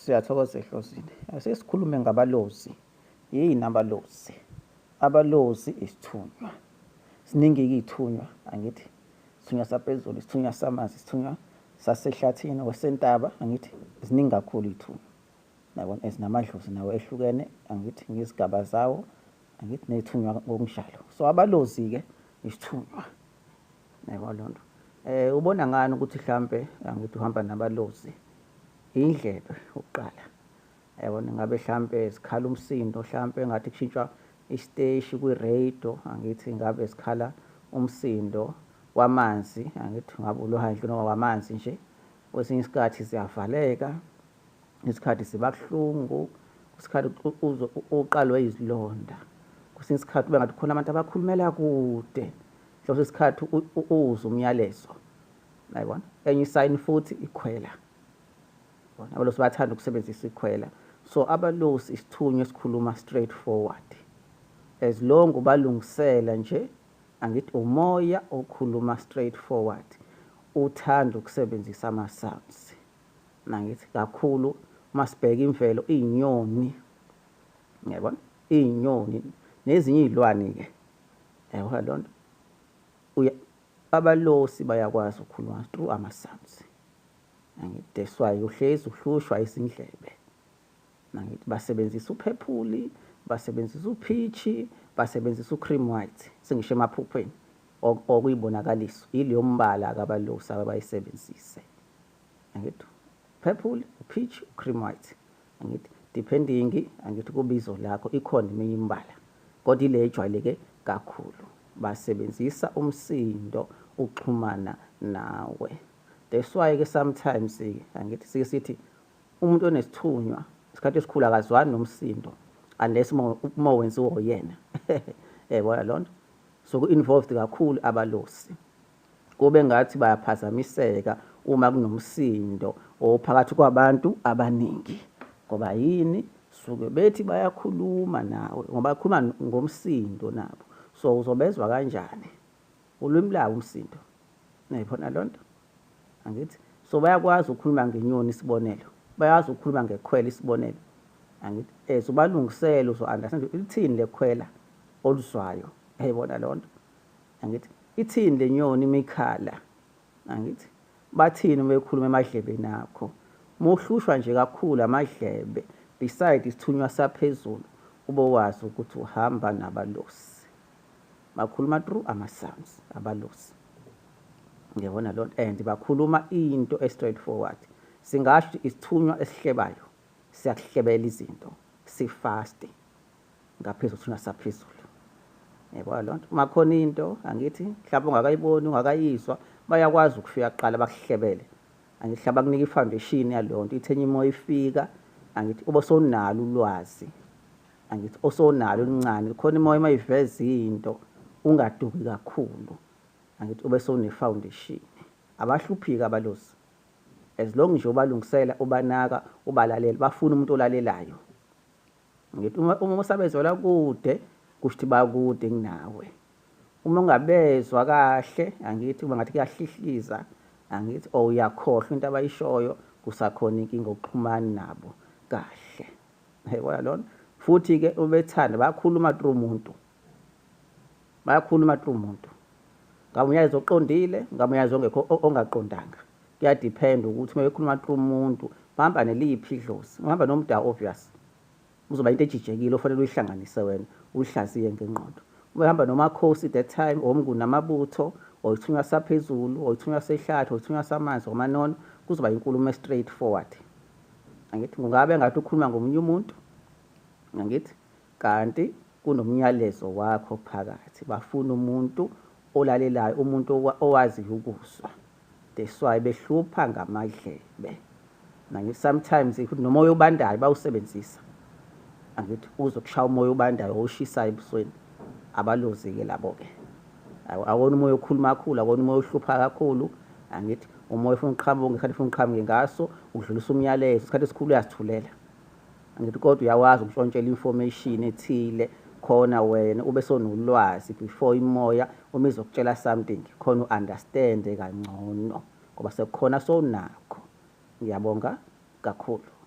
Siyathokoza ehlozini. Ase sikhulume ngabalozi. Yini abalozi? Abalozi isithunywa. Siningi ithunywa angithi. Sithunywa saphezulu, sithunywa samanzi, sithunywa sasehlathini wasentaba angithi. Ziningi kakhulu ithunywa. Yabona ezinamadlozi nawo ehlukene angithi ngezigaba zawo angithi nethunywa ngokunjalo. So abalozi ke isithunywa. Yebo lonto. Eh ubona ngani ukuthi mhlambe angithi uhamba nabalozi. Indlebe ukuqala. Yebo ngabe mhlambe sikhala umsindo mhlambe ngathi kushintshwa isiteshi kwi-radio angithi ngabe sikhala umsindo wamanzi angithi ngabe ulohandle noma wamanzi nje kwesinye isikhathi siyavaleka isikhathi siba kuhlungu isikhathi uqalwe izilonda kwesinye isikhathi ube ngathi khona abantu abakhulumela kude Hlosa isikhathi uwuze umyalezo. Nayibona? Enye isayini futhi ikhwela. Bona abalosi bathanda ukusebenzisa ikhwela. So abalosi isithunywa esikhuluma straight forward. As long ubalungisela nje angithi umoya okhuluma straight forward uthanda ukusebenzisa ama sounds. Nangithi kakhulu masibheka imvelo inyoni. Ngiyabona? iy'nyoni nezinye iy'lwane-ke yayihona loo nto abalosi bayakwazi ukukhuluma through ama-sounds angithi that's why uhlezi uhlushwa izindlebe angithi basebenzisa uphephuli basebenzisa uphishi basebenzisa ucream white sengisho emaphuphweni okuyibonakaliso yileyo mbala kabalosi ababayisebenzise angithi purple peach cream white angithi depending angithi kubizo lakho ikhona eminye imbala kodwa ile ejwayeleke kakhulu basebenzisa umsindo uxhumana nawe that's why ke sometimes angithi sike sithi umuntu onesithunywa isikhathi esikhulu akazwani nomsindo unless uma wenziwa uyena yayibona lona so ku-involved kakhulu abalosi kube ngathi bayaphazamiseka uma kunomsindo ophakathi kwabantu abaningi ngoba yini suke bethi bayakhuluma nawe ngoba khuluma ngomsindo nabo so uzobezwa kanjani ulwimi lawo umsindo nayibona lonto angithi so bayakwazi ukukhuluma ngenyoni isibonelo bayazi ukukhuluma ngekhwela isibonelo angithi eh so balungisele uzo understand lithini lekhwela oluzwayo yayibona lonto angithi ithini le nyoni uma ikhala angithi bathini uma ekhuluma emadlebeni akho muhlushwa nje kakhulu amadlebe beside isithunywa saphezulu ube wazi ukuthi uhamba nabalosi bakhuluma through ama-sounds abalosi ngiyabona loo nto and bakhuluma into e-straight forward singasho isithunywa esihlebayo siyakuhlebela izinto sifaste ngaphezu kuthi unasaphezulu yebo loo nto uma khona into angithi mhlawumbe ungakayiboni ungakayizwa bayakwazi ukufika kuqala bakuhlebele angithi mhlawumbe akunika i-foundation yaloo nto ithenye imoya ifika angithi ube sonalo ulwazi angithi osonalo oluncane khona imoya uma iveza into ungaduki kakhulu angithi ube sone-foundation abahluphiki abalozi as long nje ubalungisela ubanaka ubalalela bafuna umuntu olalelayo Ngithi uma uma usabezwela kude kusho ukuthi bakude kunawe. Uma ungabezwa kahle angithi uma ngathi kuyahlihliza angithi or uyakhohlwa into abayishoyo kusakhona inkinga okuxhumani nabo kahle. Yayibona lona? Futhi-ke uma bethanda bakhuluma through umuntu. bayakhuluma true muntu ngamuyayeza oqondile ngamuyayeza ongekho ongaqondanga kuyadepend ukuthi uma bekhuluma true muntu bahamba neliphi idlozi uhamba nomda obvious uzoba into ejijekile ofanele uyihlanganise wena uyihlaziye ngenqondo uma ehamba nomakhosi that time omnguni namabutho or ithunywa saphezulu or ithunywa sehlathi or ithunywa samanzi omanono kuzoba inkulumo straight forward angithi kungabe ngathi ukhuluma ngomunye umuntu angithi Kanti kunomyalezo wakho phakathi. Bafuna umuntu olalelayo, umuntu owaziyo ukuzwa. That's why behlupha ngamadlebe. Nangif sometimes ukuthi nomoya obandayo bawusebenzisa. Angithi uzokushaya umoya obandayo owushisayo ebusweni. Abalozike labo ke. Awona umoya okhuluma kakhulu, awona umoya ohlupha kakhulu. Angithi umoya ufuna uqhamuke, isikhathi ufuna uqhamuke ngaso, udlulisa umyalezo, isikhathi esikhulu uyasithulela. ngithi kodwa uyakwazi ukushontshela information ethile khona wena ube sonolwazi before imoya uma izokutshela something khona u-understand kangcono ngoba sekukhona sonakho ngiyabonga kakhulu